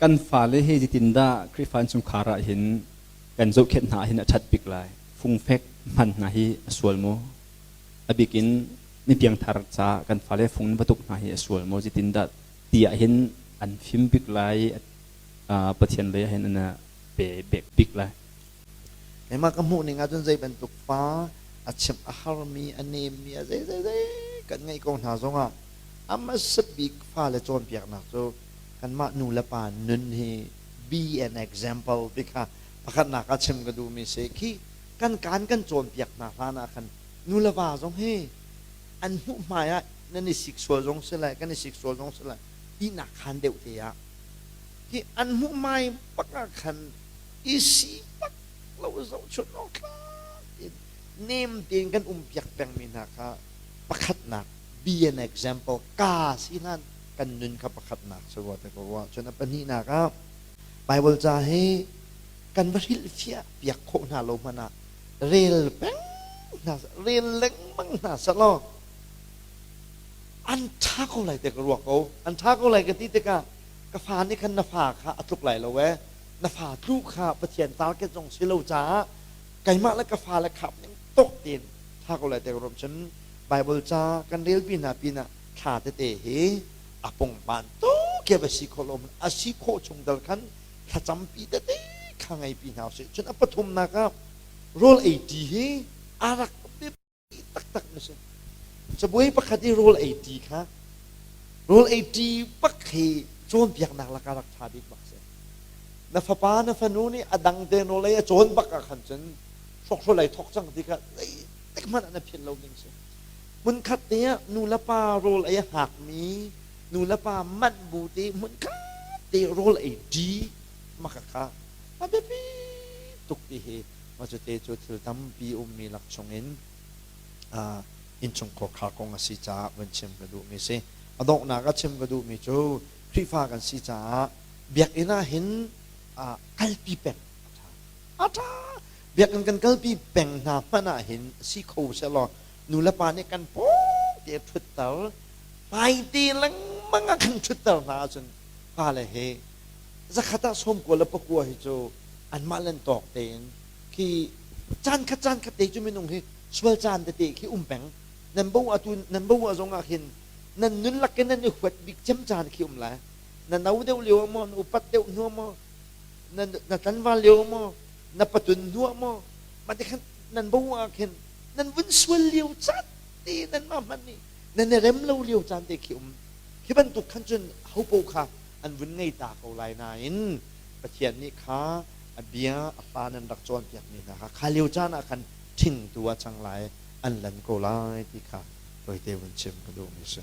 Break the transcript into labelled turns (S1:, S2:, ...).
S1: kan fale hi zetindah Khrihfa an chungkhar ah hin kan zohkhenh hna hin a ṭhat bik lai? Fungfek hman hna hi a sual maw? A bikin mi piangthar ca kan fale fung in batuk hna hi a sual maw? Zetindah ti ah hin an fim bik lai, Pathian lei ah hin an pe bik lai. Mah ka hmuhning ahcun zei bantuk pa a chimh a harmi a nemmi a zeizei kan ngeih ko hna zongah a hmasa bik fale cawnpiaknak cu kanmah nu le pa nun hi be an example ti kha pakhatnak ah chim ka duhmi si khi kan kaan kan cawnpiak hna hlan ah khan nu le va zong hi an hmuh hmai ah nan i sik sual zong si lai kan i sik sual zong si lai tinak khan deuh te ah hi an hmuh mai bak ah khan i sipak lo zohchunh awktlak in nem tein kan umpiak pengmi hna kha pakhatnak be an example ka sinan kan nun kha pakhatnak cu wa te ko wa cun a pahnihnak ah Bible ca he kan va hrilhfiah piak khawh hna lo hmanh ah rel peng hna rel lengmang hna selaw an ṭha ko lai te ka ruak ko an ṭha ko lai ka ti tikah ka fa nih khan na fa kha a tluk lai lo ee na fa tlu kha Pathian target zong si lo caah keimah le ka fa le khap ning tok tein tha ko lai te rum cun Bible ca kan relpi hna pinah thla tete hi a pungpan tuk ya va si khawh lo a si khawh chung dal khan thlacampi tete kha ngei pi hna usih cun a pathumnak ah Rule 80 hi a rak ti taktak na si cabuai pakhat i rawl ei ṭi kha rawl ei ṭi pak hi cawnpiaknak lakah rak ṭha bik bak si na fapa na fanu nih a dang te nawlei a cawn bak ah khan cun hrokhrawl ai thok cang ti kha zeitik hmanh ah na philh lo ding si hmunkhat te ah nulepa rawl ei a hngakmi nulepa manh bu te hmunkhat te rawl ei ṭi maka kha a biapi tuk ti hi Mah cute cu thil tampi ummi lak chungin innchung khawkha kong a si caah vun chim ka duhmi si. A donghnak a chim ka duhmi cu Khrihfa kan si caah biakinn ah hin kalpi peng a ṭha. A ṭha! Biakinn kan kalpi peng hna hmanh ah hin si kho sehlaw nulepa nih kan pawngte ṭhutter, hmaite lengmang ah kan ṭhutter hna ahcun fale he zakhat ah sawmkua le pakua hi cu anmah len tawk tein khi caan khat caan khat te cu minung hi sual caan tete khi um peng nan bo atu nan bo zong ah khin nan nun lak in nan i huat bik cem caan khi um lai na no deuh lio ah maw na upat deuh hnu maw na na tlanval lio maw na patun hnu maw ma te khan nan bo ah khin nan vun sual lio caan te nan ma hman nih nan i rem lo lio caan te khi um khi bantuk khan cun hopo kha an vun ngei ta ko lai nain Pathian nih kha a bia a fa nan rak cawnpiakmi hna kha kha lio caan ah khan ṭhingtu ah cang lai an lan ko lai ti kha tawite vun chim ka duhmi a si.